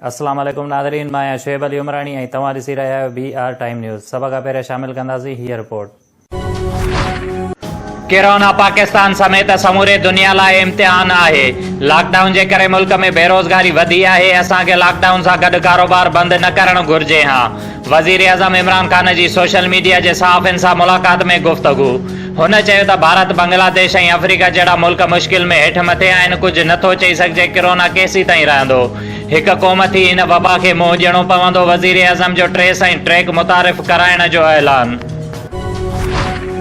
السلام عليڪم ناظرين مان آهيان شعيب علي عمراڻي ۽ توهان ڏسي رهيا آهيو بي آر ٽائيم نيوز سڀ کان پهريان شامل ڪنداسين هيء رپورٽ. ڪرونا پاڪستان سميت سموري دنيا لاء امتحان آهي، لاڪ ڊائون جي ڪري ملڪ ۾ بيروزگاري وڌي آهي، اسان کي لاڪ ڊائون سان گڏ ڪاروبار بند نه ڪرڻ گهرجي ها، وزيراعظم عمران خان جي سوشل ميڊيا جي صحافين سان ملاقات ۾ گفتگو، هن چيو ته ڀارت، بنگلاديش ۽ آفريڪا جهڙا ملڪ مشڪل ۾ هيٺ مٿي آهن، ڪجهه نه ٿو چئي سگهجي ڪرونا ڪيسيتائين رهندو، هڪ قوم ٿي هن وبا کي منهن ڏيڻو پوندو، وزيراعظم جو ٽريس ۽ ٽريڪ متعارف ڪرائڻ جو اعلان.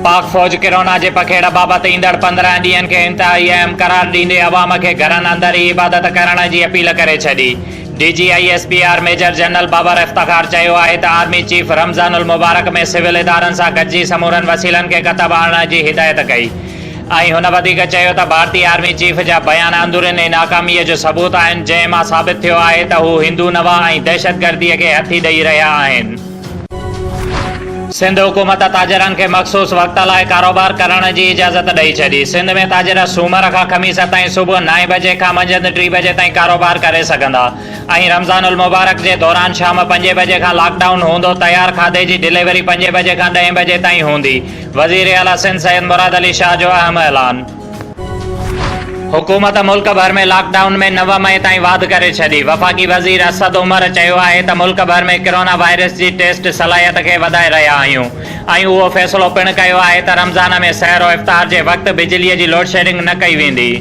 پاڪ فوج ڪرونا جي پکيڙ بابت ايندڙ پندرهن ڏينهن کي انتهائي اهم قرار ڏيندي عوام کي گهرن اندر ئي عبادت ڪرڻ جي اپيل ڪري ڇڏي. D G I S P R major general Babar Iftikhar چيو آهي ته آرمي چيف رمضان المبارڪ ۾ سول ادارن سان گڏجي سمورن وسيلن کي ڪتب آڻڻ جي هدايت ڪئي ۽ هن وڌيڪ چيو ته ڀارتي آرمي چيف جا بيان اندروني ناڪامي جو ثبوت آهن جنهن مان ثابت ٿيو آهي ته هو هندو نوا ۽ دهشتگردي کي هٿي ڏئي رهيا آهن. سنڌ حڪومت تاجرن کي مخصوص وقت لاء ڪاروبار ڪرڻ جي اجازت ڏئي ڇڏي، سنڌ ۾ تاجر سومر کان خميس تائين صبح نائين بجي کان منجهند ٽي بجي تائين ڪاروبار ڪري سگهندا ۽ رمضان المبارڪ جي دوران شام پنجين بجي کان لاڪ ڊائون هوندو تيار کاڌي جي ڊليوري پنجين بجي کان ڏهين بجي تائين هوندي، وزيراعليٰ سنڌ سيد مراد علي شاهه جو اهم اعلان. حڪومت ملڪ ڀر ۾ لاڪ ڊائون ۾ نو مئي تائين واڌ ڪري ڇڏي، وفاقي وزير اسد عمر چيو آهي ته ملڪ ڀر ۾ ڪرونا وائرس جي ٽيسٽ صلاحيت کي وڌائي رهيا آهيون ۽ اهو فيصلو پڻ ڪيو آهي ته رمضان ۾ سحر و افطار جي وقت بجلي جي لوڊشيڊنگ نه ڪئي ويندي.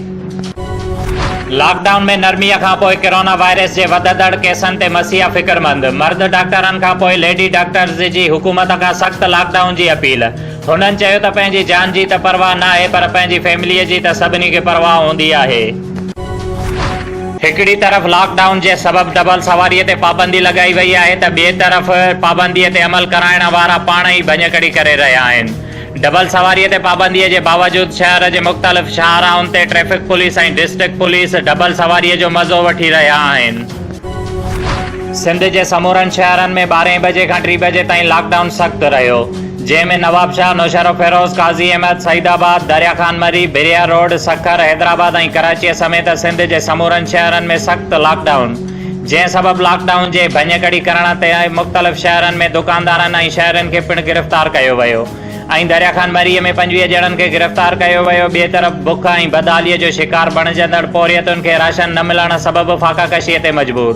لاڪ ڊائون ۾ نرمي کانپوء ڪرونا وائرس جي وڌندڙ ڪيسن تي مسيحا فڪرمند، مرد ڊاڪٽرن کانپوء ليڊي ڊاڪٽرز جي حڪومت کان سخت لاڪ ڊائون جي اپيل. هنن چيو ته پنهنجي جان جي ته پرواهه ناهي پر پنهنجي فيملي جي ته سڀني کي پرواهه هوندي آهي. هڪڙي طرف لاڪ ڊائون جي سبب ڊبل سواري تي پابندي لڳائي وئي آهي ته ٻئي طرف پابندي تي عمل ڪرائڻ وارا پاڻ ئي ڀڃڪڙي ڪري رهيا آهن. ڊبل سواري تي پابندي جي باوجود شهر جي مختلف شاهراهن تي traffic police ۽ district police double سواري جو مزو وٺي رهيا آهن. سنڌ جي سمورن شهرن ۾ ٻارهين بجي کان ٽي بجي تائين لاڪ ڊائون سخت رهيو، جنهن ۾ نوابشاهه، نوشهروفيروز، قاضي احمد، سعيد آباد، دريا خان مري، بريا روڊ، سکر، حيدرآباد ۽ ڪراچيء سميت سنڌ جي سمورن شهرن ۾ سخت لاڪ ڊائون، جنهن سبب لاڪ ڊائون جي ڀڃڪڙي ڪرڻ تي مختلف شهرن ۾ دڪاندارن ۽ شهرين کي پڻ گرفتار ڪيو ويو. ۽ دريا خان مريء ۾ پنجويهه ڄڻن کي گرفتار ڪيو ويو، ٻئي طرف بک ۽ بدحاليء جو شڪار بڻجندڙ پورهيتن کي راشن نه ملڻ سبب فاقا ڪشيء تي مجبور،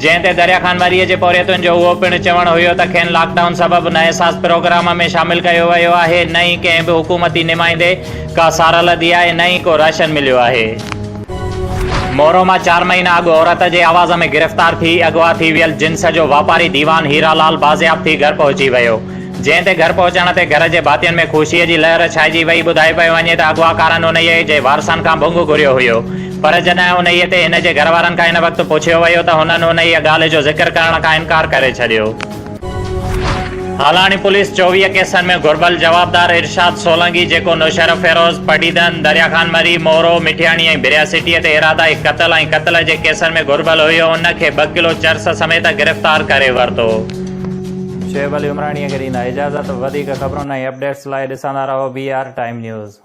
جنهن تي دريا خان مريء جي پورهيتن جو اهو پڻ چوڻ هيو ته کين لاڪ ڊائون سبب نه احساس پروگرام ۾ شامل ڪيو ويو آهي، نه ئي ڪنهن به حڪومتي نمائندي ڪا سارا لڌي آهي، نه ئي ڪو راشن مليو آهي. مورو مان چار مهينا اڳ عورت جي آواز ۾ گرفتار ٿي اغوا ٿي ويل جنس جو واپاري ديوان هيرا لال بازياب ٿي گهر پهچي ويو. جنهن تي گهر پهچڻ تي گهر جي ڀاتين ۾ خوشيء جي لهر ڇائجي وئي، ٻڌايو پيو وڃي ته اغواڪارن انهيء جي وارثن کان ڀونگ گهريو هيو، پر جڏهن انهيء تي هن جي گهر وارن کان ان وقت پڇيو ويو ته هنن انهيء ڳالهه جو ذڪر ڪرڻ کان انڪار ڪري ڇڏيو. هالاڻي پوليس چوويهه ڪيسن ۾ گهربل جوابدار ارشاد سولنگي جيڪو نوشهره فيروز، پڊيدن، دريا خان مري، مورو، مٺياڻي ۽ بريا سٽيء تي ارادائي قتل ۽ قتل جي ڪيسن ۾ گهربل هيو ان کي ٻه ڪلو چرس سميت گرفتار ڪري ورتو. شعيب علي عمراڻي اگر ايندا اجازت وڌيڪ خبرن ۽ اپڊيٽس لاء ڏسندا رهو بي آر ٽائيم نيوز.